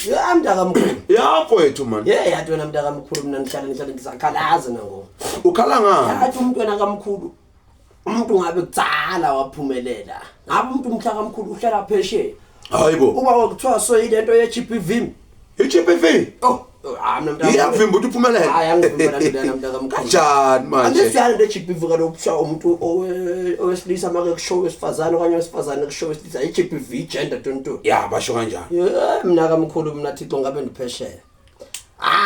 ya mntaka mkhulu ya kwethu man ye yathi wena mntaka mkhulu mina ngihlale ngihlale ngisakhalaza nango ukhala ngani yathi umuntu wena kamkhulu umuntu ngabe kutsala waphumelela ngabe umuntu umhlaka mkhulu uhlala phesheya hayibo uba wakuthiwa soyile nto ye-GBV i-GBV oh hayi mina mntaka iyakuvimba ukuthi uphumelele hayi angivimba nje lana mntaka mkhulu kanjani manje angisiyani into ejibha ivuka lokuthiwa umuntu owe- owesilisa make kusho owesifazane okanye owesifazane kusho owesilisa i-gbv gender 22 ya basho kanjani Yeah, mina kamkhulu mina thixo ngabe ndiphesheya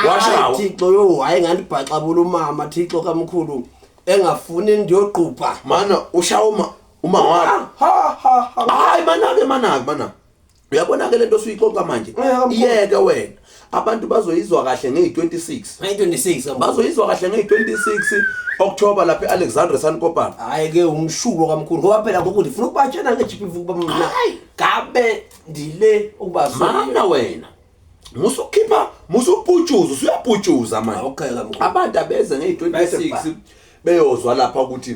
Washawa. Hayi, thixo yo hayi ngandibhaxabula umama thixo kamkhulu engafuni ndiyogqubha mana ushawa uma uma wakho Ah, ha ha ha hayi manake manake manake uyabona ke lento suyixoxa manje iyeke wena abantu bazoyizwa kahle ngeyi26 ngeyi26 bazoyizwa kahle ngeyi26 October lapha eAlexandra Sankopana hayi ke umshubo kamkhulu ngoba phela ngoku ndifuna ukubatshena ngeGPV kuba mina gabe ndile ukubazwa mana wena musu khipha musu uputshuza usuyaputshuza manje abantu abeze ngeyi26 beyozwa lapha ukuthi